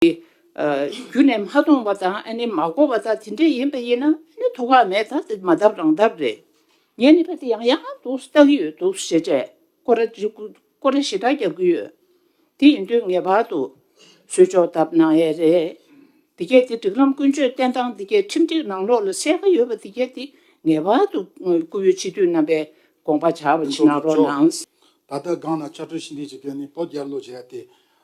རྒྱུ་ནས་མ་མཐོང་བ་དང་ཨ་ནི་མ་གོ་བ་དག་དེ་འདྲས་ཡིན་པ་ཡིན་ན་ཨ་ནི་དོ་ཁག་མེད་ད་དེ་མ་བཏབ་རང་བཏབ་རེད། ངས་ནི་བ་དེ་ཡང་ཡང་ང་འདུག་བལྟ་གི་ཡོད་འདུག་ཞེས་དྲས་ཀོ་ར་དྲི་ཀོ་ར་ཞེ་དྲག་རྒྱབ་ཀྱི་ཡོད། དེ་ཡིན་དུས་ངེས་པར་དུ་བཟོས་ཆོག་བཏབ་ན་ཡས་རེད། དེ་སྐད་དེ་སྒྲིག་ལམ་ཀུན་སྤྱོད་བསྟན་སྟངས་དེ་སྐད་ཁྲིམས་སྒྲིག་ནང་ལོགས་ལ་གསལ་ཁ་ཡོད་པ་དེ་སྐད་དེ་ངེས་པར་དུ་བཀུར་འོས་སྤྱི་འཐུས་རྣམ་པས་དགོངས་པ་བྱ་བ་ཅིག་གནང་རོགས་གནང། ད་ལྟ་སྒང་ན་བཅའ་ཁྲིམས་ཞིབ་འདེགས་བྱེད་མཁན་ནི་བོད་རྒྱལ་ལོ་རྒྱལ་དེ་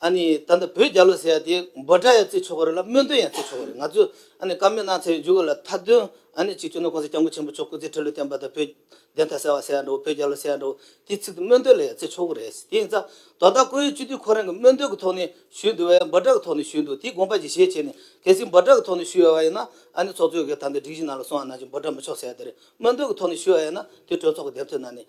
ཨ་ནི་ད་ལྟ་བོད་རྒྱ་ལོ་ཟེར་ཡ་དེ་འབོ་སྒྲ་ཡང་བརྩི་ཆོག་གོ་རེད་ལ་སྨོན་འདུན་ཡང་བརྩི་ཆོག་གོ་རེད་ང་ཚོས་ཨ་ནི་བཀའ་མོལ་གནང་ཚར་བའི་མཇུག་ལ་མཐའ་དོན་ཨ་ནི་གཅིག་བྱུང་ན་ཁོང་ཚོས་སྐྱབས་མགོན་ཆེན་པོ་མཆོག་སྐུ་ཚེ་ཁྲི་ལོ་བརྟན་པ་དང་བོད་བདེན་མཐའ་གསལ་བ་ཟེར་ཡ་འདྲ་བོ་བོད་རྒྱ་ལོ་ཟེར་ཡ་འདྲ་བོ་དེའི་ཚིག་དེ་སྨོན་འདུན་ལ་ཡང་བརྩི་ཆོག་གོ་རེད་དེ་ཡིན་ཙང་དོ་བདག་ཁོ་ཡུལ་སྤྱི་འཐུས་ཁོ་རང་གིས་སྨོན་འདུན་གྱི་ཐོག་ནས་ཞུས་འདུག་བས་འབོ་སྒྲ་གི་ཐོག་ནས་ཞུས་འདུག་དེའི་དགོངས་པ་གྱི་ཞེས་བྱས་ནས་གལ་སྲིད་འབོ་སྒྲ་གི་ཐོག་ནས་ཞུས་ཡོད་བ་ཡིན་ན་ཨ་ནི་ཚོགས་གཙོའི་གིས་ད་ལྟ་སྒྲིག་གཞི་ནང་ལ་སོང་བ་ནང་བཞིན་འབོ་སྒྲ་མི་ཆོག་ཟེར་ཡ་དེ་རེད་སྨོན་འདུན་གྱི་ཐོག་ནས་ཞུས་བ་ཡིན་ན་དེ་གྲོས་ཚོགས་ཀྱི་འདེམས་ཐོན་ནང་ནས་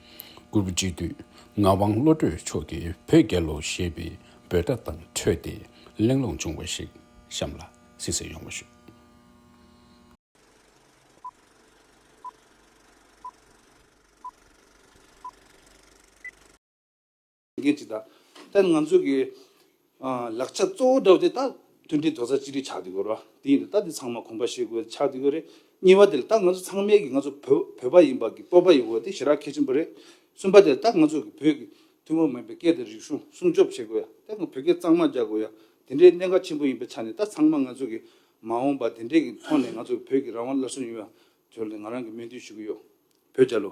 དགུ། དཔྱིད་དུས་ངག་དབང་བློ་གྲོས་མཆོག་གིས་བོད་རྒྱལ་ལོ་ཞེས་པའི་འབོད་སྒྲ་དང་འཕྲོད་དེ་གླེང་སློང་བྱུང་བ་ཞིག་གཤམ་ལ་གསལ་བཤད་ཡོང་བ་ཞུ། འགན་གཅིག་དང། ད་ང་ཚོས་ཀྱི། ལག་ཆ་གཙོ་བོ་འདྲ་བོ་དེ་དག་མཐུན་སྒྲིལ་དོགས་ཟ་གཅིག་སྒྲིལ་ཆགས་འདི་དགོས་ར་དེ་ཡིན་དུ་ད་དེ་ཚང་མ་གོམས་པ་བྱེད་དགོས་ཆགས་འདི་དགོས་རེད། གཉིས་པ་དེ་ད་ང་ཚོ་ཚང་མས་ཀྱི་ང་ཚོ་བོད་བོད་པ་ཡིན་པ་ཀྱི་སྤོབས་པ་ཡོད་དགོས་དེ་ཞེ་དྲག་གལ་ཆེན་པོ་རེད། གསུམ་པ་དེ་ད་ང་ཚོས་ཀྱི་བོད་ཀྱི་ཐུན་མོང་མིན་པའི་སྐད་དང་རིག་གཞུང་སྲུང་སྐྱོབ་བྱེད་དགོས་ཡ་ད་ང་བོད་སྐད་གཙང་མ་རྒྱག་དགོས་ཡ་དེ་འདྲའི་གནད་འགག་ཆེན་པོ་ཡིན་པའི་ཆ་ནས་ད་ཚང་མ་ང་ཚོས་ཀྱི་མ་འོངས་པ་དེ་འདྲའི་ཀྱི་ཐོག་ནས་ང་ཚོ་བོད་ཀྱི་རང་དབང་སླར་གསོ་ཡོང་ཡ་དེ་ལ་ང་རང་གི་སྨོན་འདུན་ཞུ་གི་ཡོད་བོད་རྒྱ་ལོ།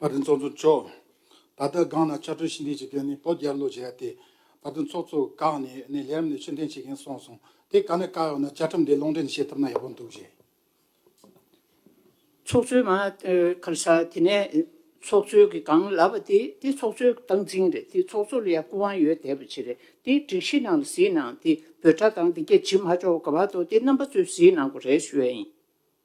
བར་དོའི་ཚོགས་གཙོ་མཆོག་ད་ལྟ་སྒང་ན་བཅའ་ཁྲོལ་ཞི་འདེབས་བྱེད་མཁན་ནི་བོད་རྒྱལ་ལོ་རྒྱལ་ཡག་སྟེ། བར་དོའི་ཚོགས་གཙོ་བཀག་ནས་ནས་ལྷེ་རམ་ནས་ཕྱིར་འཐེན་བྱེད་མཁན་སོང་སོང་དེ་བཀག་ན་བཀག་ཡོང་ན་བཅའ་ཁྲིམས་དེ་ལུང་འདྲེན་བྱེད་ཐུབ་ན་ཡག་པོ་འདུག་ཅེས། ཚོགས་གཙོའི་མ་ཁར་ས་དེ་ནས་ཚོགས་གཙོའི་གི་སྒང་ལབ་པ་དེ་དེ་ཚོགས་གཙོའི་སྟངས་འཛིན་རེད་དེ་ཚོགས་གཙོ་ལ་ཡང་སྐུ་དབང་ཡོད་དད་པ་བྱེད་རེད་དེ་སྒྲིག་གཞི་ནང་ལ་ཟིན་ནང་དེ་བོད་གྲ་སྟངས་དེ་གྱ་བྱེད་མ་ཆོག་ག་བར་དོ་དེ་རྣམ་པ་ཚོས་ཟིན་ནང་གོ་རེ་ཞུ་ཡ་ཡིན།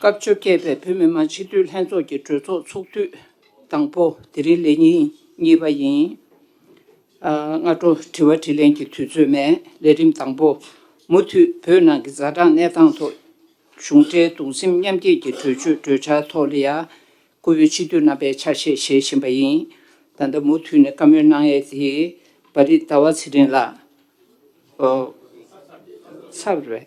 སྐབས་བཅོ་བརྒྱད་པའི་བོད་མི་མང་སྤྱི་འཐུས་ལྷན་ཚོགས་ཀྱི་གྲོས་ཚོགས་ཚོགས་དུས་དང་པོ་དེ་རིང་ལས་ཉིན་གཉིས་པ་ཡིན། སྔ་དྲོ་དྲི་བ་དྲིས་ལན་གྱི་དུས་ཚོད་མེད་ལས་རིམ་དང་པོ་མུ་མཐུད་བོད་ནང་གི་ཛ་དྲག་གནས་སྟངས་ཐོག་གཞུང་འབྲེལ་གདུང་སེམས་མཉམ་སྐྱེད་ཀྱི་གྲོས་ཆོད་གྲོས་འཆར་ཐོག་ལི་ཡཱ་ཁུ་བོའི་སྤྱི་འཐུས་རྣམ་པས་ཆ་ཤས་བཞེས་བཞིན་པ་ཡིན། ད་ལྟ་མུ་མཐུད་ནས་བཀའ་མོལ་གནང་ཡས་དེ་བ་རི་ཟླ་བ་ཚེ་རིང་ལགས། ཚར་བས།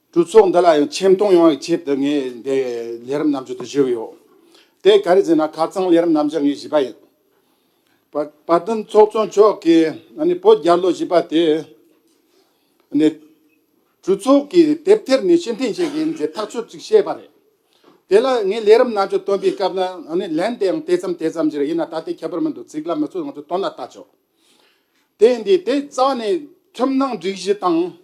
གྲོས་ཚོགས་འདི་ལ་ཡང་ཆེ་མཐོང་ཡོང་བའི་ཆེད་དུ་ངས་འདི་ལས་རིམ་རྣམ་འབྱོར་དུ་བཞེས་ཀྱི་ཡོད། དེ་ག་རེ་ཟེར་ན་ཁ་ཚང་ལས་རིམ་རྣམ་འབྱོར་ངས་བཞེས་པ་ཡིན། བ་དན་ཚོགས་གཙོ་མཆོག་གིས་བོད་རྒྱ་ལོ་བཞི་པ་དེ་ནི་གྲོས་ཚོགས་ཀྱི་དེབ་ཐེར་ནས་ཕྱིར་འཐེན་བྱེད་མཁན་གྱི་ཐག་གཅོད་ཅིག་བྱས་པ་རེད། དེ་ལ་ངས་ལས་རིམ་རྣམ་འབྱོར་བཏོན་པའི་སྐབས་ལ་ལན་དེ་ཡང་དེ་ཙམ་དེ་ཙམ་གྱིས་རེད་ཡིན་ན་ད་ལྟའི་ཁྱད་པར་མི་འདུག་ཚིག་ལ་མི་ཚོད་ང་ཚོས་དོན་ལ་བལྟ་ཆོག་དེ་འདི་དེ་རྩ་བ་ནས་ཁྲིམས་ནང་སྒྲིག་གཞི་དང།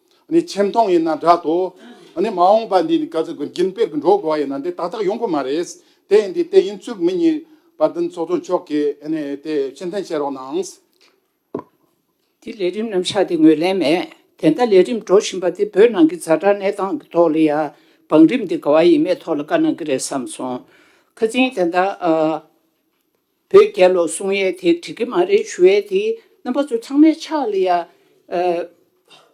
ནི་ཆེ་མཐོང་ཡིན་ན་འདྲ་ཏོ། ནི་མ་འོངས་པ་འདི་ནི་ག་ཚོད་ཀྱི་རྒྱུན་སྤེལ་གྱི་འགྲོ་དགོས་པ་ཡིན་ན་དེ་ཏག་ཏག་ཡོང་གི་མ་རེད། དེ་ཡིན་དུས་དེ་ཡིན་ཚུལ་མི་གཉིས་པ་བདུན་ཚོགས་གཙོ་མཆོག་གིས་དེ་ཕྱིར་འཐེན་བྱེད་རོགས་གནང། དེ་ལས་རིམ་རྣམ་གཞག་དེ་ངོས་ལེན་མེད། དེ་འདྲ་ལས་རིམ་འགྲོ་བཞིན་པ་དེ་བོད་ནང་གི་རྫ་དྲག་གནས་སྟངས་ཀྱི་ཐོག་ལ་ཡང་བང་རིམ་དེ་ག་བ་ཡིན་མེད་ཐོག་ལ་བཀའ་གནང་གི་རེད་བསམ་སོང། ཁ་ཚིན་དེ་འདྲ། བོད་རྒྱལ་ལོ་གསུང་ཡས་དེ་འགྲིག་གི་མ་རེད་ཞུ་ཡས་དེ་རྣམ་པ་ཚོ་ཚང་མས་ཕྱག་ལས་ཡ།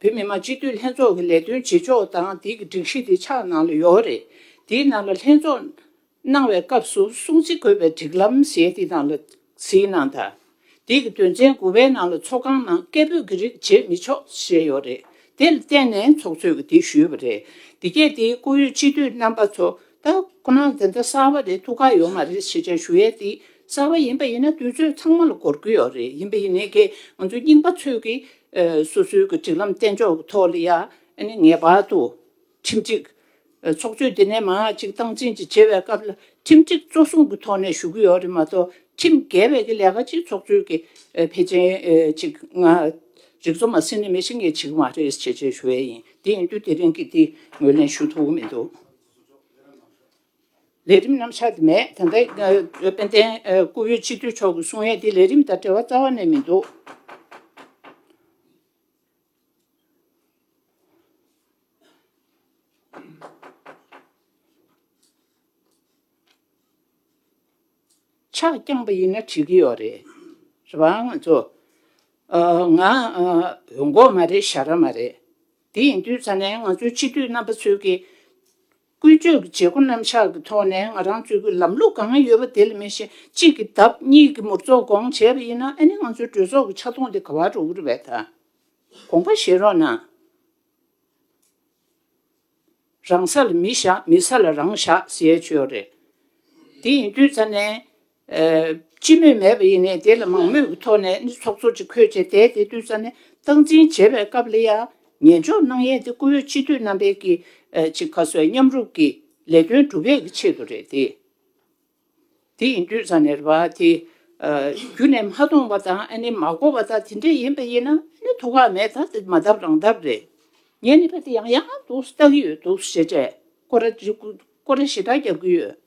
བོད་མི་མང་སྤྱི་འཐུས་ལྷན་ཚོགས་ཀྱི་ལས་དོན་བྱེད་ཕྱོགས་དང་དེ་གི་སྒྲིག་གཞི་དེ་ཕྱག་ནང་ལ་ཡོད་རེད་དེ་ནང་ལ་ལྷན་ཚོགས་གནང་བའི་སྐབས་སུ་གསུང་ཚིག་འགོད་པའི་སྒྲིག་ལམ་ཞེས་དེ་ནང་ལ་གཟིགས་གནང་དང་དེ་གི་དོན་ཚན་དགུ་པའི་ནང་ལ་ཚོགས་ཁང་ནང་སྐད་འབོད་ཀྱི་རིགས་བྱེད་མི་ཆོག་ཞེས་ཡོད་རེད་དེ་ལ་བརྟེན་ནས་ཚོགས་གཙོས་ཀྱི་དེ་ཞུས་པ་རེད་དེ་གས་དེ་བཀུར་ཡོད་སྤྱི་འཐུས་རྣམ་པ་ཚོ་ད་ཁོ་ནང་འཛིན་གྲྭ་གསར་བ་རེ་ཐུགས་ཁག་ཡོད་མ་རེད་ཞེས་བྱ་ཞུ་ཡས་འདི་གསར་བ་ཡིན་པ་ཡིན་ན་དུས་ཚོད་ཚང་མ་ལ་གོར་གི་ཡོད་རེད་ཡིན་པ་ཡིན་ནའི་གེ་ང་ཚོ་རྙིང་པ་ཚོས་གི་སོ་སོའི་གི་སྒྲིག་ལམ་བསྟན་ཕྱོགས་གི་ཐོག་ལ་ཡང་ནི་ངེས་པར་དུ་ཁྲིམས་སྒྲིག་ཚོགས་ཆོས་འདི་ནས་མང་ཅིག་སྟངས་འཛིན་ཅིག་བྱེད་པའི་སྐབས་ལ་ཁྲིམས་སྒྲིག་གཙོ་བཟུང་གི་ཐོག་ནས་ཞུ་གི་ཡོད་རེད་མ་གཏོགས་ཁྲིམས་འགལ་བའི་གི་ལས་ཀ་ཅིག་ཚོགས་ཆོས་གི་ཕལ་ཆེན་ཅིག་ང་རིག་ཚོ་མ་ཟིན་ནས་མི་ཤི་ངེས་བྱེད་གི་མ་རེད་ཞེས་བྱས་ཞུ་ཡས་ཡིན་དེ་ཡིན་དུས་དེ་རིང་གི་འདི་ངོས་ལེན་ཞུ་ཐུབ་གི་མི་འདུག། ལས་རིམ་རྣམ་གཞག་དེ་མེད་དེ་འདྲ་དཔལ་ལྡན་སྐུ་བོད་སྤྱི་འཐུས་མཆོག་གི་གསུང་ཡས་དེ་ལས་རིམ་དང་འབྲེལ་བ་རྩ་བ་ནས་མི་འདུག། ཕྱག་བརྐྱངས་པ་ཡིན་ན་བྲིས་ཀྱི་ཡོད་རེད། རེད་བ། ང་ཚོ། ང། འོས་འགོག་མ་རེད་ཞྭ་ར་མ་རེད། དེ་ཡིན་དུས་ཚ་ནས་ང་ཚོའི་སྤྱི་འཐུས་རྣམ་པ་ཚོས་ཀྱི། ཀུན་སྤྱོད་ཀྱི་བྱེད་སྒོ་རྣམ་གཞག་གི་ཐོག་ནས་ང་རང་ཚོས་ཀྱི་ལམ་ལུགས་གང་ཡོད་པ་དེ་ལ་མེད་བཞིན་གཅིག་གི་ལྡབ་གཉིས་ཀྱི་མུར་ཚོགས་སྐོང་བྱས་པ་ཡིན་ན་ཨ་ནི་ང་ཚོའི་གྲོས་ཚོགས་ཀྱི་ཆ་མཐོང་དེ་ག་བར་འགྲོ་གི་རེད་བ། ད་དགོངས་པ་བཞེས་རོགས་གནང། རང་ས་ལ་མི་བཞག་མི་ས་ལ་རང་བཞག་ཟེར་ཆོས་རེད། དེ་ཡིན་དུས་ད་ནས། སྤྱི་མོས་མེད་པ་ཡིན་ནས་དེ་ལ་མང་མོས་ཀྱི་ཐོག་ནས་ནི་ཚོགས་གཙོ་ཅིག་འཁོད་བྱས་དེ་དེ་དུས་ད་ནས་སྟངས་འཛིན་བྱེད་པའི་སྐབས་ལ་ཡང་ཉན་འཇོག་གནང་ཡས་དེ་བཀུར་འོས་སྤྱི་འཐུས་རྣམ་པས་ཀྱི་ཅིག་ག་སོའི་མཉམ་རུབ་ཀྱི་ལས་དོན་སྒྲུབ་ཡས་ཀྱི་ཆེད་དུ་རེད་དེ། དེ་ཡིན་དུས་ས་ནས་རེ་བ་དེ། རྒྱུ་ནས་མ་མཐོང་བ་དང་ཨ་ནི་མ་གོ་བ་དང་དེ་འདྲ་ཡིན་པ་ཡིན་ན་ཨ་ནི་དོ་ཁག་མེད་ད་དེ་མ་བཏབ་རང་བཏབ་རེད། ངས་ནི་ཕ་དེ་ཡང་ཡག་འདུག་བལྟ་གི་ཡོད་འདུག་ཞེས་དྲེད་ཀོ་ར་འདྲི་ཀོ་ར་ཞེ་དྲག་རྒྱག་གི་ཡོད།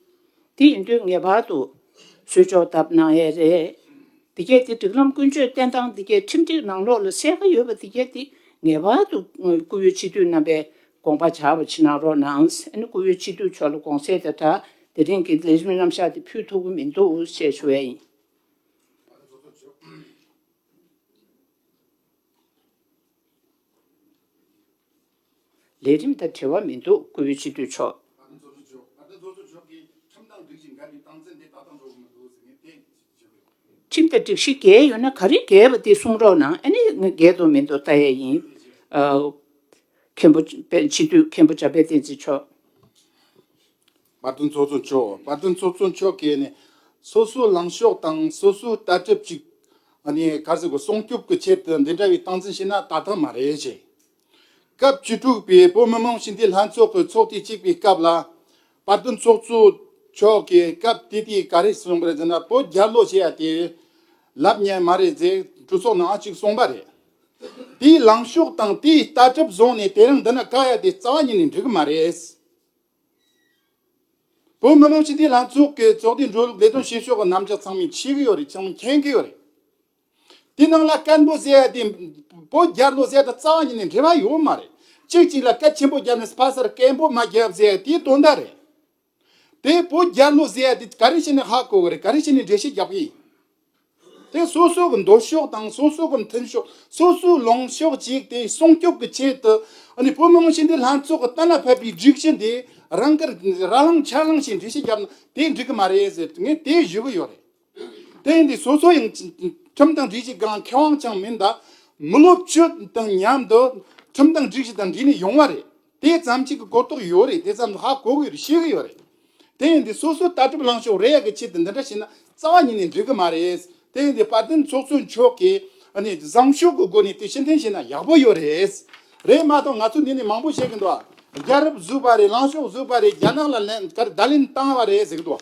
དེ་ཡིན་དུས་ངེས་པར་དུ། གསོལ་ཅོག་བཏབ་ན་ཡས་རེད། འདི་སྐད་དེ་སྒྲིག་ལམ་ཀུན་སྤྱོད་བསྟན་སྟངས་འདི་སྐད་ཁྲིམས་སྒྲིག་ནང་ལོགས་ལ་གསལ་ཁ་ཡོད་པ་འདི་སྐད་དེ་ངེས་པར་དུ་བཀུར་འོས་སྤྱི་འཐུས་རྣམ་པས་དགོངས་པ་བྱ་བ་ཕྱི་ནང་རོ་ནང་སེ་ནི་སྐུ་བོའི་སྤྱི་བསྡུས་ཆོག་ལ་དགོངས་སེ་དེ་འདྲ་དེ་རིང་གི་ལས་རིམ་རྣམ་བཞག་དེ་ཕུལ་ཐུབ་ཀྱི་མི་འདུག་ཞེས་ཞུ་བས་ཡིན། ལས་རིམ་དང་བྲལ་བ་མི་འདུག་སྐུ་བོའི་སྤྱི་བསྡུས་ཆོག། ཅིག་དང་སྒྲིག་གཞི་འགལ་ཡོད་ན་ག་རེ་འགལ་བ་དེ་གསུང་རོགས་གནང་ཨ་ནི་ང་འགལ་འདུག་མི་འདུག་ལྟ་ཡས་ཡིན། མཁན་པོ་དཔལ་སྤྱི་འཐུས་མཁན་པོ་འཇམ་དཔལ་བསྟན་འཛིན་མཆོག། དཔའ་རྟུལ་ཚོགས་གཙོ་མཆོག་དཔའ་རྟུལ་ཚོགས་གཙོ་མཆོག་གིས་ཨ་ནི་སོ་སོའི་ལངས་ཕྱོགས་དང་སོ་སོའི་ལྟ་གྲུབ་ཅིག་ཨ་ནི་ག་ཟེར་དགོས་སྲུང་སྐྱོབ་ཀྱི་ཆེད་དུ་འདི་འདྲ་བའི་སྟངས་འཛིན་བྱས་ན་ལྟ་ཐབས་མ་རེད་ཅེས། སྐབས་བཅུ་དྲུག་པའི་བོད་མི་མང་སྤྱི་འཐུས་ལྷན་ཚོགས་ཀྱི་ཚོགས་ཐེངས་གཅིག་པའི་སྐབས་ལ། པར་དུ་ཚོགས་གཙོ་མཆོག་གིས་སྐབས་དེ་དུས་ག་རེ་གསུངས་པ་རེད་ཟེར་ན་བོད་རྒྱ་ལོ་བྱེད་ཡ་དེ་ལབ་ཉན་མ་རེད་ཟེར་གྲོས་ཚོགས་ནང་ཨང་གཅིག་གསུངས་པ་རེད། དེའི་ལངས་ཕྱོགས་དང་དེའི་ལྟ་གྲུབ་བཟུང་ནས་དེ་རིང་འདི་ན་བཀག་ཡ་དེ་རྩ་བ་ཉིད་ནས་འགྲིག་གི་མ་རེད། བོད་མི་མང་སྤྱི་འཐུས་ལྷན་ཚོགས་ཀྱི་ཚོགས་དེ་འགྲོ་ལུགས་ལས་དོན་བྱེད་ཕྱོགས་ཀྱི་རྣམ་གཞག་ཚང་མས་ཤེས་གི་ཡོད་རེད་ཅང་མི་མཁྱེན་གི་ཡོད་རེད། དེ་རྣམས་ལ་བཀའ་མདོ་གསལ་ཡང་དེ་པོ་རྒྱ་མདོ་གསལ་དང་རྩ་བ་ཉིད་ནས་འབྲེལ་བ་ཡོད་མ་རེད། གཅིག་གཅིག་ལ་བཀའ་ཆེན་པོ་རྒྱབ་ནས་ཕ་སར་བཀའི་མདོ་མ་རྒྱབ་ཟེར་ཡང་དེའི་དོན་དག་རེད། དེ་པོ་རྒྱ་མདོ་ཟེར་ཡང་དེ་ག་རེ་བྱས་ནས་ཧ་གོ་གི་རེད་ག་རེ་བྱས་ནས་འགྲེལ་བཤད་རྒྱབ་གི་ཡིན། དེ་སོ་སོ་གི་འདོད་ཕྱོགས་དང་སོ་སོ་གི་མཐུན་ཕྱོགས་སོ་སོའི་ལངས་ཕྱོགས་གཅིག་དེ་སྲུང་སྐྱོབ་ཀྱི་ཆེད་དུ་བོད་མི་མང་ཆེན་དེ་ལྷན་ཚོགས་ཀྱི་གཏན་ལ་ཕབ་པའི་སྒྲིག་གཞི་འདི་རང་གིས་ར་ལངས་ཆ་ལངས་བྱས་འགྲེལ་བཤད་རྒྱབ་ན་དེ་འགྲིག་གི་མ་རེད་ཟེར་ངས་དེ་ཞུ་གི་ཡོད་རེད། དེང་དུས་སོ་སོ་ཡང་ཁྲིམས་དང་སྒྲིག་གཞི་འགའ་མཁས་དབང་ཅང་མི་འདའ། མི་སློབ་བཅོས་དང་མཉམ་དུ་ཁྲིམས་དང་སྒྲིག་གཞི་དང་འདྲིས་ནས་ཡོང་བ་རེད། དེ་ཙམ་གཅིག་གི་གོ་རྟོགས་ཡོད་རེད་དེ་ཙམ་ལ་ཧ་གོ་གི་རེད་ཤེས་གི་ཡོད་རེད། དེང་དུས་སོ་སོ་ལྟ་གྲུབ་ལངས་ཕྱོགས་རེ་ཡག་གི་ཆེད་དུ་འདི་འདྲ་བྱས་ན་རྩ་བ་ཉིད་ནས་འགྲིག་གི་མ་རེད། དེང་དུས་དཔལ་ལྡན་ཚོགས་གཙོ་མཆོག་གིས་བཟང་ཤོས་ཀྱི་སྒོ་ནས་དེ་ཕྱིར་འཐེན་བྱས་ན་ཡག་པོ་ཡོད་རེད། རེད་མ་གཏོགས་ང་ཚོ་འདི་ནས་མང་པོ་བཤད་གི་འདུག་རྒྱ་རབས་བཟོས་པ་རེད་ལངས་ཕྱོགས་བཟོས་པ་རེད་རྒྱ་ནག་ལ་བརྡ་ལན་བཏང་བ་རེད་ཟེར་གི་འདུག།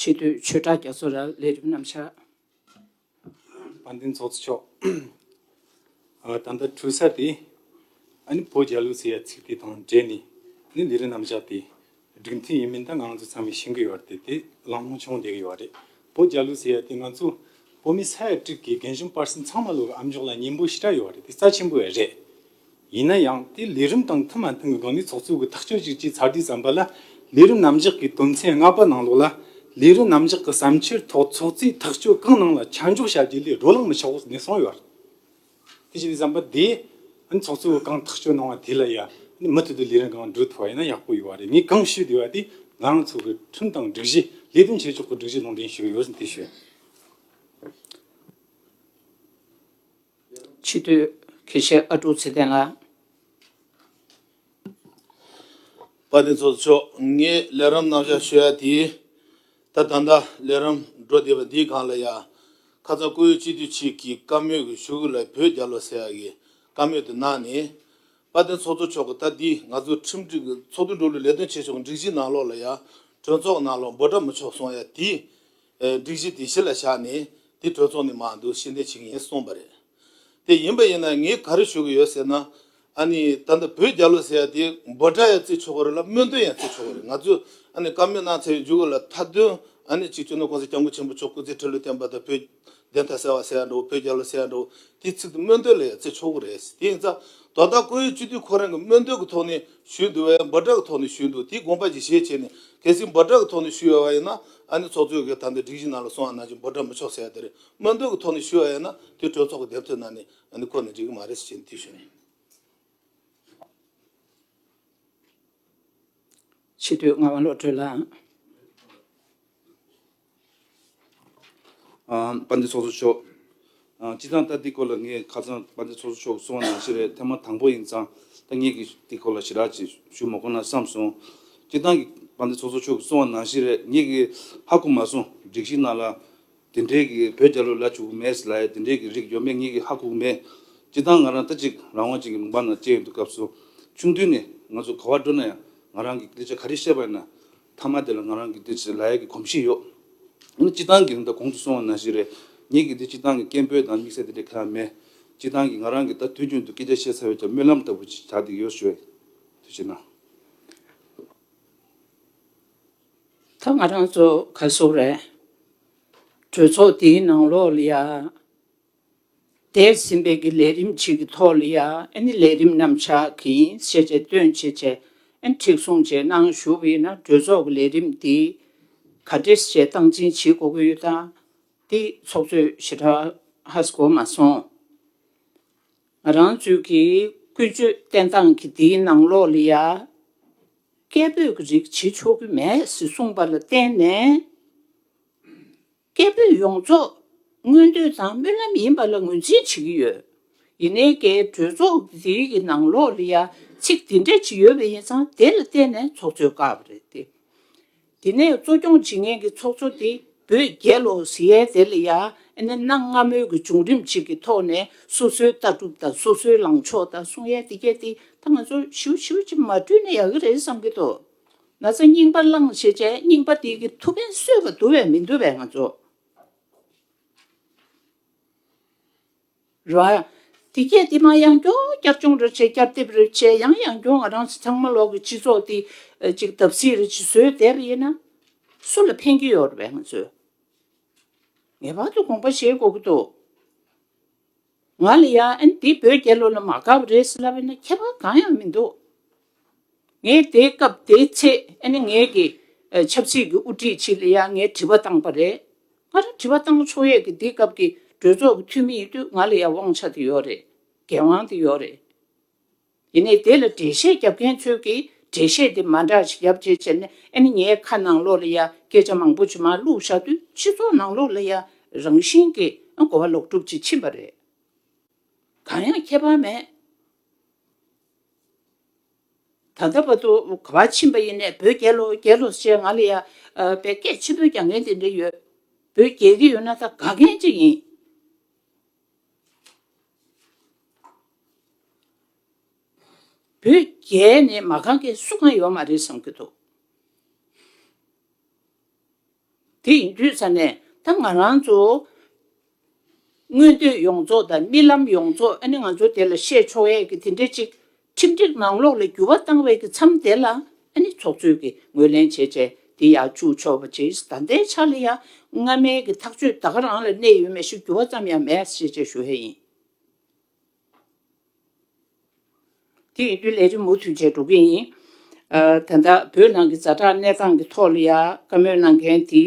ཆེ་བསྟོད་ཆོས་གྲགས་རྒྱ་མཚོ་ལ་ལས་རིམ་རྣམ་བཞག། དཔལ་ལྡན་ཚོགས་གཙོ་མཆོག། ད་ལྟ་འཁྲུལ་ས་དེ། བོད་རྒྱལ་ལོ་ཟེར་ཡ་ཚིག་དེ་དང་འབྲེལ་ནས་ནི་ལས་རིམ་རྣམ་བཞག་དེ་སྒྲིག་མཐུན་ཡིན་མིན་ད་ང་ཚོ་ཚང་མས་ཤེས་གི་ཡོད་རེད་དེ་ལམ་ལྷོང་བྱུང་བསྡད་གི་ཡོད་རེད་བོད་རྒྱལ་ལོ་ཟེར་ཡ་དེ་ང་ཚོ་བོད་མི་ས་ཡ་དྲུག་གི་རྒན་གཞོན་སྤར་སེམས་ཚང་མ་ལོ་གི་ཨ་མཆོག་ལ་སྙིང་པོ་ཞི་དྲག་ཡོད་རེད་དེ་རྩ་ཆེན་པོ་རེད། ཡིན་ན་ཡང་དེ་ལས་རིམ་དང་མཐུན་མ་མཐུན་གྱི་སྒང་ནས་ཚོགས་གཙོའི་གིས་ཐག་གཅོད་ཅིག་ཅེས་ཚ་དུས་བསམ་པ་ལ། ལས་རིམ་ནམ་གཞག་གི་དོན་ཚན་ལྔ་པ་ནང་ལོགས་ལ། ལས་རིམ་ནམ་གཞག་གི་བསམ་འཆར་ཐོག་ཚོགས་གཙོས་ཐག་གཅོད་གང་གནང་ལ་ཆ་འཇོག་བྱ་རྒྱུ་ལས་བགྲོ་གླང་མི་ཆགས་བོ་ནས་གསུངས་ཡོད། དེ་བྱས་ཏེ་བསམ་པ་དེ་ནི་ཚོགས་གཙོའི་གང་ཐག་གཅོད་གནང་བ་དེ་ལ་ཡང་ནི་མུ་མཐུད་དུ་ལས་རིམ་གང་བསྒྲུབ་ཐུབ་པ་ཡིན་ན་ཡག་པོ་ཡོད་བ་རེད་ངས་གང་ཞུས་བསྡད་པ་དེ་ང་རང་ཚོ་གི་ཁྲིམས་དང་སྒྲིག་གཞི་ལས་དོན་བྱེད་ཕྱོགས་ཀྱི་སྒྲིག་གཞི་ནང་འདྲེན་ཞུས་ཡོད་ཟིན་དེ་ཞུས། ཕྱི་དུས། གེ་ཤེ་ཨ་ཀྲུག་ཚེ་བརྟན་ལགས། པ་དེ་ཚོ་མཆོག་ངས་ལས་རམ་གནང་བཞག་ཤོད་ཡ་དེ་ད་ད་ལྟ་ལས་རམ་འགྲོ་བསྡད་པ་འདི་གང་ལ་ཡ་ཁ་ཚ་ཀོ་ཡོ་སྤྱི་འཐུས་གཅིག་གིས་བཀའ་མོས་གི་ཞུ་གི་ལ་བོད་རྒྱ་ལོ་ཟེར་ཡ་གི་བཀའ་མོས་དེ་གནང་ནས་པ་དེ་ཚོ་ཚོ་མཆོག་གི་ད་འདི་ང་ཚོ་ཁྲིམས་སྒྲིག་གི་ཚོགས་འདུ་འགྲོ་ལུགས་ལས་དོན་ཆེ་ཆུང་གི་འགྲིག་གཞི་གནང་ལོག་ལ་ཡ་གྲོས་ཚོགས་གནང་ལོག་འབོ་དྲ་མི་ཆོག་སོང་ཡ་དེ་སྒྲིག་གཞི་དེ་གཞི་ལ་བཞག་ནས་དེ་གྲོས་ཚོགས་ནས་མ་འདུག་ཤེས་ལྡན་བྱེད་ཀྱི་ཡིན་གསུངས་པ་རེད། དེ་ཡིན་པ་ཡིན་ན་ངས་ག་རེ་ཞུ་གི་ཡོད་ཟེར་ན། ཨ་ནི་ད་ལྟ་བོད་རྒྱ་ལོ་ཟེར་ཡ་དེ་འབོད་སྒྲ་ཡང་བརྩི་ཆོག་གི་རེད་ལ་སྨོན་འདུན་ཡང་བརྩི་ཆོག་གི་རེད་ང་ཚོས་ཨ་ནི་བཀའ་མོལ་གནང་ཚར་བའི་མཇུག་ལ་མཐའ་དོན་ཨ་ནི་གཅིག་བྱུང་ན་གོང་ས་སྐྱབས་མགོན་ཆེན་པོ་མཆོག་སྐུ་ཚེ་ཁྲི་ལོ་བརྟན་པ་དང་བོད་བདེན་མཐའ་གསལ་བ་གསལ་འགྲོ་བོད་རྒྱལ་ལོ་གསལ་འགྲོ་དེའི་ཚིག་དེ་སྨོན་འདོད་ལས་བརྩི་ཆོག་གི་རེད་ཟེར་དེ་ཡིན་ཙང་དོ་བདག་བཀུར་འོས་སྤྱི་འཐུས་ཁོ་རང་གི་སྨོན་འདོད་ཀྱི་ཐོག་ནས་ཞུས་འདུག་བས་འབུ་དྲག་གི་ཐོག་ནས་ཞུས་འདུག་དེའི་དགོངས་པ་གྱི་གཞས་བྱས་ནས་གལ་སྲིད་འབུ་དྲག་གི་ཐོག་ནས་ཞུས་ཡོད་བ་ཡིན་ན་ཨ་ནི་ཚོགས་གཙོའི་གི་ད་འདི་སྒྲིག་གཞི་ནང་ལ་སོང་བ་ནང་བཞིན་འབུ་དྲག་མི་ཆོག་ཟེར་ཡ་དེ་རེད་སྨོན་འདོད་ཀྱི་ཐོག་ནས་ཞུས་བ་ཡིན་ན་དེ་གྲོས་ཚོགས་གི་འདེམས་ཐོན་ནང་ནས་ཨ་ནི་བཀོད་ནས་འགྲིག་གི་མ་རེད་ཟེར་བྱས་ནས་དེ་ཞུས། ཕྱི་སྡོད་ངག་དབང་བློ་གྲོས་ལགས། དཔའ་འདི་ཚོགས་གསོ་ཤོག། སྤྱི་ཚང་ལྟ་འདི་སྐོར་ལ་ངས་ཁ་ཚང་དཔའ་འདི་ཚོགས་གསོ་ཤོག་གསུང་བ་ནང་བཞིན་རེད་ཐེངས་མ་དང་པོ་ཡིན་ཙང་ཐེངས་གཉིས་ཀྱི་འདི་སྐོར་ལ་ཞི་དྲག་ཅིག་ཞུ་མ་གོ་ན་བསམ་སོང། སྤྱི་ཚང་གི་དཔའ་འདི་ཚོགས་གསོ་ཤོག་གསུང་བ་ནང་བཞིན་རེད་ངེད་ཀྱི་ཧ་གོ་མ་སོང་སྒྲིག་གཞི་ནང་ལ་དེ་འདྲའི་གི་བོད་རྒྱ་ལོ་ལ་བྱུག་གི་མེད་ལ་དེ་འདྲའི་གི་རིགས་ཡོད་མེད་ངེད་ཀྱི་ཧ་གོ་མེད། སྤྱི་ཚང་ང་རང་ལྟ་ཅིག་རང་དབང་ཅན་གྱི་མུན་པ་ནང་སྐྱེས་ཡོད་འདུག་སྐབས་སུ་ཆུང་དུས་ནས་ང་ཚོ་ག་བར་འགྲོ་ན་ཡང་ང་རང་གི་ལི་ཆ་ག་རེ་བཤད་པ་ཡིན་ན། མཐའ་མ་དེ་ལ་ང་རང་གི་འདི་ཟེར་ལ་ཡ་གི་གོམས་གཤིས་ཡོད། ཡིན་ན་སྤྱི་བཏང་གི་རིང་ད་གོང་དུ་སོང་བ་ན་ཞིག་རེད། ངེད་ཀྱི་འདི་སྤྱི་བཏང་གི་སྐད་འབོད་དང་དམིགས་བསལ་དེ་འདྲའི་ཁ་ཡ་མེད། སྤྱི་བཏང་གིས་ང་རང་གིས་ད་དུས་རྒྱུན་དུ་སྐད་ཆ་བཤད་ཚར་བས་ཀྱང་སྨོན་ལམ་ལྟ་བུ་ཞིག་བྱ་འདི་ཡོད་ཞོད། དུས་ཕྱིན་ན། ད་ང་རང་ཚོ་ག་སོ་རེད། གྲོས་ཚོགས་འདིའི་ནང་ལོགས་ལ་ཡ། འདས་ཟིན་པའི་གི་ལས་རིམ་གཅིག་གི་ཐོག་ལ་ཡ་ཨན་ནི་ལས་རིམ་རྣམ་གཞག་གི་ཤེས་བྱའི་སྟོན་བྱེད་བྱས་ཨན་ཁྲིགས་སྲུང་བྱས་གནང་ཞུ་བས་ན་གྲོས་ཚོགས་ཀྱི་ལས་རིམ་འདི་ག་འདྲེ་ཞེས་སྟངས་འཛིན་བྱེད་དགོས་ཀྱི་ཡོད་ད་འདི་ཚོགས་གཙོས་ཞེ་དྲག་ཧ་ས་གོ་མ་སོང། ང་རང་ཚོའི་གི་ཀུན་སྤྱོད་བསྟན་སྟངས་ཀྱི་འདིའི་ནང་ལོགས་ལ་ཡ་སྐད་འབོད་ཀྱི་རིགས་བྱེད་ཆོག་གི་མེད་ཟེ་གསུངས་པ་ལ་བརྟེན་ནས། སྐད་འབོད་ཡོངས་རྫོགས་སྔོན་དུད་ཚང་སྨོན་ལམ་ཡིན་པ་ལ་ངོས་འཛིན་བྱེད་ཀྱི་ཡོད། ཡིན་ནའི་འགའི་གྲོས་ཚོགས་འདིའི་གི་ནང་ལོག་ལི་ཡ་ཚིག་འདི་འདྲ་ཅིག་ཡོད་པ་ཡིན་ཙང་དེ་ལ་བརྟེན་ནས་ཚོགས་གཙོའི་བཀའ་བབས་རེད་དེ། དེ་ནས་གཙོ་སྐྱོང་བྱེད་མཁན་གི་ཚོགས་གཙོ་དེ་བོད་རྒྱལ་ལོ་ཟི་ཡའི་དེ་ལ་ཡ་ཨེ་ནའི་གནའ་སྔ་མོའི་གི་བྱུང་རིམ་ཅིག་གི་ཐོག་ནས་སོ་སོའི་ལྟ་གྲུབ་དང་སོ་སོའི་ལངས་ཕྱོགས་དང་གསུང་ཡ་དེ་རྒྱ་དེ་ད་ང་ཚོ་ཞིའུ་ཞིའུ་ཅིག་མ་བསྐྲུན་ན་ཡག་གི་རེད་བསམ་གི་འདུག་ན་ཚ་རྙིང་པ་བླངས་ཞེས་བྱའི་རྙིང་པ་དེ་གི་ཐུགས་ཕན་གསོས་པ་འདུ་བས་མི་འདུ་བས་ང་ཚོ། རོ། དེ་སྐད་དེ་མ་ཡང་སྐྱོ་བསྐྱར་སྐྱོང་རེ་བྱས་བསྐྱར་དེབ་རེ་བྱས་ཡང་ཡང་སྐྱོ་ང་རང་ཚང་མ་ལོག་གི་སྤྱི་ཚོགས་དེ་ཅིག་དབ་སྲིད་རེ་བྱེད་སྲོལ་དེ་རེ་ཡིན་ན། སུ་ལ་ཕན་གི་ཡོད་རེད་བས་ང་ཚོས་ངེས་པར་དུ་དགོངས་པ་བཞེས་དགོས་ཀི་འདུག། ང་ལ་ཡང་འདི་བོད་རྒྱལ་ལོ་ལ་མ་དགའ་བ་རེད་ཟེར་ལབ་ཡོད་ན་ཁྱད་པར་གང་ཡང་མི་འདུག་ངས་དེའི་སྐབས་དེའི་ཚེ་ནས་ངེད་ཀྱི་ཆབ་སྲིད་ཀྱི་དབུ་ཁྲིད་ཅིག་ལ་ཡང་ངས་དྲི་བ་བཏང་པ་རེད། ང་རང་དྲི་བ་བཏང་ན་ཆོག་ཡས་ཀྱི་འདི་སྐབས་ཀྱི་གྲོས་ཚོགས་ཀྱི་འཐུས་མི་ཡིན་དུས་ང་ལ་ཡང་དབང་ཆ་དེ་ཡོད་རེད། འགན་དབང་དེ་ཡོད་རེད། དེ་ནས་དེ་ལ་འགྲེལ་བཤད་རྒྱབ་མཁན་ཚོས་ཀྱིས་འགྲེལ་བཤད་དེ་མ་འདྲ་ཞིག་རྒྱབ་རྗེས་ཟེར་ནས་ཨ་ནི་ངའི་ཁ་ནང་ལོགས་ལ་ཡང་སྐད་ཆ་མང་པོ་ཇི་མ་བླུགས་བཞག་དུས་སྤྱི་ཚོགས་ནང་ལོགས་ལ་ཡང་རང་བཞིན་གྱིས་གོ་བ་ལོག་གྲུབ་ཅིག་ཕྱིན་པ་རེད། གང་ཡང་ཁྱད་པར་མེད། ད་ལྟ་བར་དུ་གོ་བ་ཕྱིན་པ་ཡིན་ནས་བོད་རྒྱལ་ལོ་རྒྱལ་ལོ་ཞེས་ང་ལ་ཡང་བའི་སྐད་ཆེན་པོ་རྒྱག་མཁན་དེ་འདྲ་ཡོད། བོད་རྒྱལ་གྱི་ཡོད་ན་ད་དགའ་མཁན་ཅིག་ཡིན། བོད་རྒྱལ་ནི་མ་གང་གི་སུ་གང་ཡོད་མ་རེད་བསམ་གྱི་འདུག་དེ་ཡིན་དུས་ས་ནས་ད་ང་རང་ཚོ་མངོན་འདོད་ཡོངས་རྫོགས་དང་རྨི་ལམ་ཡོངས་རྫོགས་ཨ་ནི་ང་ཚོ་དེ་ལ་བཤད་ཆོག་ཡས་ཀྱི་དེ་འདྲས་ཅིག་ཁྲིམས་སྒྲིག་ནང་ལོགས་ལ་འགྱུར་བ་བཏང་བའི་གི་འཚམས་དེ་ལ་ནི་ཚོགས་གཙོས་ཀྱི་ངོས་ལེན་བྱེད་ཆེད་དེ་ཡང་བཅུག་ཆོག་པ་ཇི་ལྟ་བདེ་ཆ་ལ་ཡང་སྔ་མའི་གི་ཐག་གཅོད་ད་ག་རང་ལ་གནས་ཡོད་མེད་ཞིག་འགྱུར་བ་ཙམ་ཡང་མེད་ཤེས་ཆེད་ཞུ་ཧེ་ཡིན། དེ་ཡིན་དུས་ལས་རིམ་མུ་མཐུད་བྱས་འགྲོ་གི་ཡིན། ད་ལྟ་བོད་ནང་གི་བཟའ་བྲག་གནས་སྟངས་ཀྱི་ཐོག་ལ་ཡང་བཀའ་མོལ་གནང་མཁན་དེ་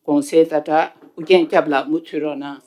གོང་གསལ་ཟླ་གྲགས་ཨུ་རྒྱན་སྐྱབས་ལགས་མུ་མཐུད་རོགས་གནང།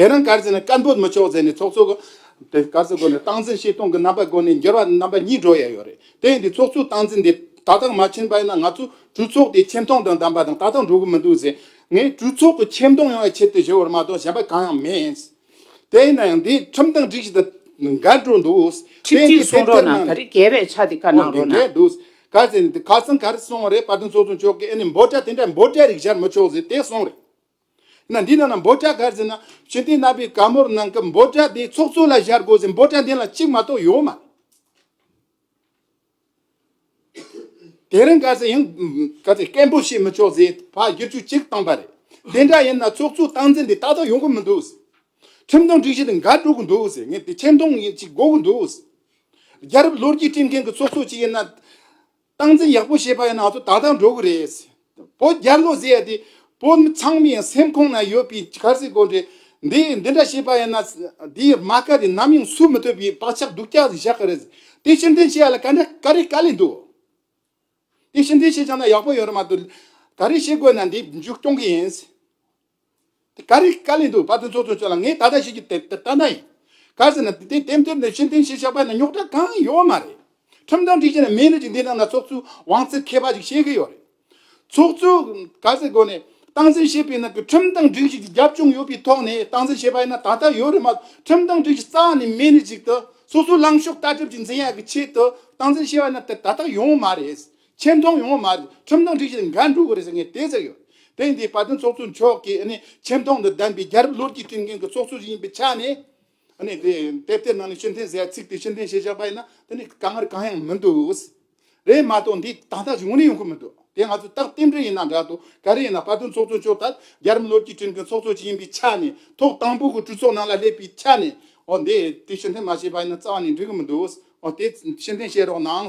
དེ་རིང་སྐར་རྩིས་ནི་སྐར་འབོད་མི་ཆོག་ཟེར་ནས་ཚོགས་གཙོ་གིས་སྐར་རྩིས་སྒོ་ནས་སྟངས་འཛིན་བྱེད་སྟངས་ཀྱི་རྣམ་པ་སྒོ་ནས་འགྱུར་བ་རྣམ་པ་གཉིས་འགྲོ་ཡས་ཡོད་རེད་དེ་ཡིན་དུས་ཚོགས་གཙོའི་སྟངས་འཛིན་དེ་ད་ལྟ་མ་ཕྱིན་པ་ཡིན་ན་ང་ཚོའི་གྲོས་ཚོགས་དེ་ཆེ་མཐོང་དང་ལྡན་པ་དང་ད་ལྟ་འགྲོ་གི་མི་འདུག་ཟེར་ངས་གྲོས་ཚོགས་ཀྱི་ཆེ་མཐོང་ཡོང་བའི་ཆེད་དུ་ཞུ་བར་མ་གཏོགས་གཞན་པ་གང་ཡང་མེད། དེ་ཡིན་ན་ཡང་འདི་ཁྲིམས་དང་སྒྲིག་གཞི་དང་འགལ་འགྲོ་འདུག་ཁྲིམས་དེ་སྒྲིག་གཞི་སྲུང་རོགས་གནང་ད་རེས་འགལ་བའི་ཆ་དེ་ག་གནང་རོགས་གནང། འགལ་འདུག་སྐར་རྩིས་ནི་དེ་ག་ཚང་ག་རེ་སོང་བ་རེད་པ་དེ་ཚོགས་གཙོ་མཆོག་གིས་ཨེ་ནས་འབོད་སྒྲ་དེ་འདྲ་འབོད་སྒྲའི་རིགས་སྦྱར་མི་ཆོག་ཟེར་དེ་སོང་རེད། ན། འདི་ན་ན་འབོ་ལྕག་གར་ཟེར་ན། ཞུན་ཏེ་ནག་པའི་དཀར་མོར་སྣང་སྐབས་འབོ་ལྕག་དེའི་ཚོགས་གཙོ་ལ་བཞར་དགོས་ཟེར་འབོ་ལྕག་འདི་ལ་གཅིག་མ་གཏོགས་ཡོད་མ། དེ་རིང་གར་ཟེར་ཡང་གར་ཟེར་སྐད་འབོད་བྱེད་མི་ཆོག་ཟེར་ཕ་བསྒྱུར་བཅོས་གཅིག་བཏང་པ་རེད། དེ་འདྲ་ཡིན་ན་ཚོགས་གཙོའི་སྟངས་འཛིན་དེ་ཏག་ཏག་ཡོང་གི་མི་འདུག་ཟེར། ཁྲིམས་དང་སྒྲིག་གཞི་དེ་འགའ་དཀྲུག་གི་འདུག་ཟེར་ངས་དེ་ཁྲིམས་དང་ཡིན་གཅིག་འགོག་གི་འདུག་ཟེར། རྒྱལ་རབས་ལོ་རྒྱུས་ཁྲིམས་མཁན་གྱི་ཚོགས་གཙོ་གཅིག་ཡིན་ན། སྟངས་འཛིན་ཡག་པོ་བྱེད་པ་ཡིན་ན་ང་ཚོ་ད་ལྟ་འགྲོ་གི་རེད། བོད་རྒྱ་ལོ་ཟེར་ཡ་དེ་བོད་མི་ཚང་མའི་སེམས་ཁོང་ན་ཡོད་པའི་གར་སའི་དགོན་རེད། འདི་འདི་འདྲ་བྱེད་པ་ཡིན་ན་དེའི་རྨ་ཁ་དེ་ནམ་ཡང་སུ་མི་ཐུབ་པའི་བག་ཆགས་སྡུག་ཅག་བཞག་གི་རེད། དེ་ཕྱིར་འདྲེན་བྱེད་ཡ་ལ་ག་འདྲ་ག་རེ་ག་ལས་འདུག། དེ་ཕྱིར་འདྲེན་བྱེད་ཅང་ན་ཡག་པོ་ཡོད་རེད་མ་གཏོགས་ག་རེ་བྱེད་དགོས་ན་འདི་མཇུག་སྐྱོང་གི་ཡིན། དེ་ག་རེ་བཀའ་ལས་འདུག་བ་དེ་ཚོ་ཚོ་ཚོ་ལ་ངས་ད་ལྟ་བཤད་རྒྱུ་དེ་ལྟ་ན་ཡིན། ག་ཟེར་ན་དེ་དེ་དེབ་དེབ་ནས་ཕྱིར་འཐེན་བྱས་ཆགས་པ་ནི་རྙོག་དྲ་གང་ཡོད་མ་རེད། ཁྲིམས་དང་སྒྲིག་གཞི་ནི་མིའི་རིགས་ཀྱི་འདི་རྣམས་ལ་ཚོགས་གཙོའི་དབང་ཚད་ཁེ་བ་ཞིག་བཤད་ཀྱི་ཡོད་རེད། ཚོགས་གཙོས་ག་ཟེར་དགོས་ནས་སྟངས་འཛིན་བྱེད་པའི་ནང་གི་ཁྲིམས་དང་སྒྲིག་གཞི་གྱི་རྒྱབ་ལྗོངས་ཡོད་པའི་ཐོག་ནས་སྟངས་འཛིན་བྱེད་པ་ཡིན་ན་ད་ལྟ་ཡོད་རེད་མ་གཏོགས་ཁྲིམས་དང་སྒྲིག་གཞི་རྩ་བ་ནས་མེད་ནས་ཅིག་ཏུ་སོ་སོའི་ལངས་ཕྱོགས་ལྟ་གྲུབ་ཀྱི་འཛིན་ཡ་གི་ཆེད་དུ་སྟངས་འཛིན་བྱེད་པ་ནི་དེ་ད་ལྟ་ཡོང་མ་རེད། ཆེ་མཐོང་ཡོང་བ་མ་རེད་ཁྲིམས་དང་སྒྲིག་གཞི་འགའ་འགྲུབ་དགོས་རེད་ཟེར་མཁན་དེ་ཟེར་ཡོད་དེ་འདི་བར་དོན་ཚོགས་གཙོ་མཆོག་གིས་ནི་ཆེ་མཐོང་དང་ལྡན་པའི་རྒྱལ་རབས་ལོ་རྒྱུས་བསྐྲུན་མཁན་གྱི་ཚོགས་གཙོ་ཞིག་ཡིན་པའི་ཆ་ནས་ནི་དེ་དེབ་དེའི་ནང་ནས་ཕྱི་འཐེན་ཟེར་ཚིག་དེ་ཕྱི་འཐེན་བྱེད་བཞག་པ་ཡིན་ན་དེ་ནི་དཀའ་ངལ་གང་ཡང་མི་འདུག་རེད་མ་གཏོགས་འདི་ད་ལྟ་བྱུང་ནས་ཡོང་ཁུལ་མི་འདུག་དེ་ང་ཚོས་རྟག་རྟེན་འབྲེལ་ཡིན་ན་འདྲ་དོ་ག་རེ་ཡིན་ན་བར་དོན་ཚོགས་གཙོ་མཆོག་ལྟར་རྒྱལ་རབས་ལོ་རྒྱུས་བསྐྲུན་མཁན་ཚོགས་གཙོ་ཞིག་ཡིན་པའི་ཆ་ནས་ཐོག་དང་པོ་གི་གྲོས་ཚོགས་ནང་ལ་སླེབས་པའི་ཆ་ནས་འོ་འདི་དེ་ཕྱི་འཐེན་མ་བྱས་པ་ཡིན་ན་རྩ་བ་ནས་འགྲིག་གི་མི་འདུག་འོ་དེ་ཕྱི་འཐེན་བྱེད་རོགས་གནང་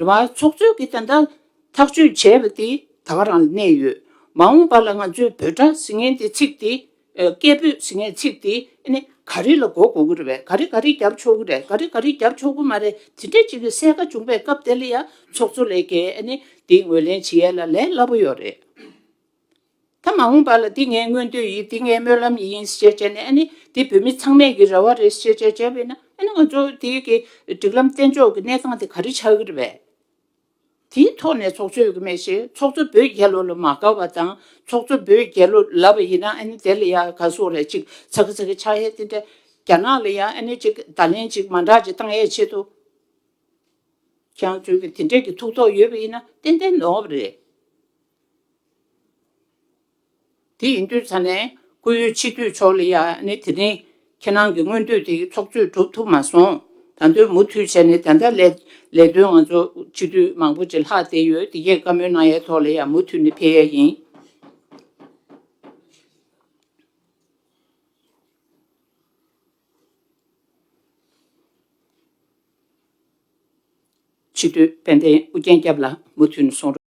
རེ་བ་འཚོགས་ཚོད་ཀྱི་ད་ལྟ་ཐག་གཅོད་བྱས་པ་དེ་ད་བར་རང་གནས་ཡོད། མ་འོངས་པ་ལ་ང་ཚོས་བོད་སྒྲ་ཟི་ངན་དེ་ཚིག་དེ། སྐད་འབོད་ཟི་ངན་ཚིག་དེ་ནི་ག་རེ་ལ་གོ་དགོས་ཀྱི་རེད་བས་ག་རེ་ག་རེ་བརྒྱབ་ཆོག་གི་རེད་ག་རེ་ག་རེ་བརྒྱབ་ཆོག་གི་མ་རེད་དེ་འདྲའི་ཅིག་གི་གསལ་ཁ་བྱུང་པའི་སྐབས་དེ་ལ་ཡང་ཚོགས་གཙོ་ལས་ཀའི་དེ་ངོས་ལེན་བྱེད་ཡས་ལ་ལས་སླ་པོ་ཡོད་རེད། ད་མ་འོངས་པ་ལ་འདི་ངའི་མངོན་འདོད་ཡིན་འདི་ངའི་སྨོན་ལམ་ཡིན་ཞེས་བྱས་ནས་ཨ་ནི་འདི་བོད་མི་ཚང་མས་ཀྱི་རེ་བ་རེད་ཞེས་བྱས་བྱས་པས་ན་ཨ་ནི་ང་ཚོ་འདི་གི་སྒྲིག་ལམ་བསྟན་ཕྱོགས་ཀྱི་གནས་སྟངས་དེ་ག་རེ་ཆགས་ཀྱི་རེད་པས། དེའི་ཐོག་ནས་ཚོགས་ཆོས་ཀྱི་མེད་བཞིན་ཚོགས་གཙོ་བོད་རྒྱལ་ལོ་ལ་མ་དགའ་བ་དང་ཚོགས་གཙོ་བོད་རྒྱལ་ལོ་ལབ་པ་ཡིན་ན་ཨ་ནི་དེ་ལ་ཡང་ག་སོགས་རེད་ཅིག་ཚ་གི་ཚ་གི་ཆགས་ཡས་དེ་འདྲ་རྒྱ་ནག་ལ་ཡང་ཨ་ནི་ཅིག་བརྡ་ལན་ཅིག་མ་འདྲ་ཅིག་བཏང་ཡས་ཆེད་དུ་ཁྱེད་རང་ཚོའི་གི་དེ་འདྲས་ཀྱི་ཐུགས་དོགས་ཡོད་པ་ཡིན་ན་ཏན་ཏན་ནོར་བ་རེད། དེ་ཡིན་དུས་ཚང་ནས་སྐུ་ཡོད་ཕྱི་དུས་ཆོག་ལེ་ཡ་ནི་དེ་རིང་ཁྱེད་རང་གི་སྔོན་དུས་དེ་ཚོགས་གཙོས་གྲུབ་ཐུབ་མ་སོང་ད་དུས་མུ་མཐུད་བྱས་ནས་ད་ལྟ་ལས་ལས་དོན་ང་ཚོ་ཕྱི་དུས་མང་པོ་ཅི་ལྷག་བསྡད་ཡོད་དེ་ཡས་བཀའ་མོལ་གནང་ཡས་ཐོག་ལེ་ཡ་མུ་མཐུད་ནས་ཕེ་ཡས་ཡིན། ཕྱི་དྲོའི་དཔལ་ལྡན་ཨུ་རྒྱན་སྐྱབས་ལ་མུ་མཐུད་ནས་སོང་རོགས།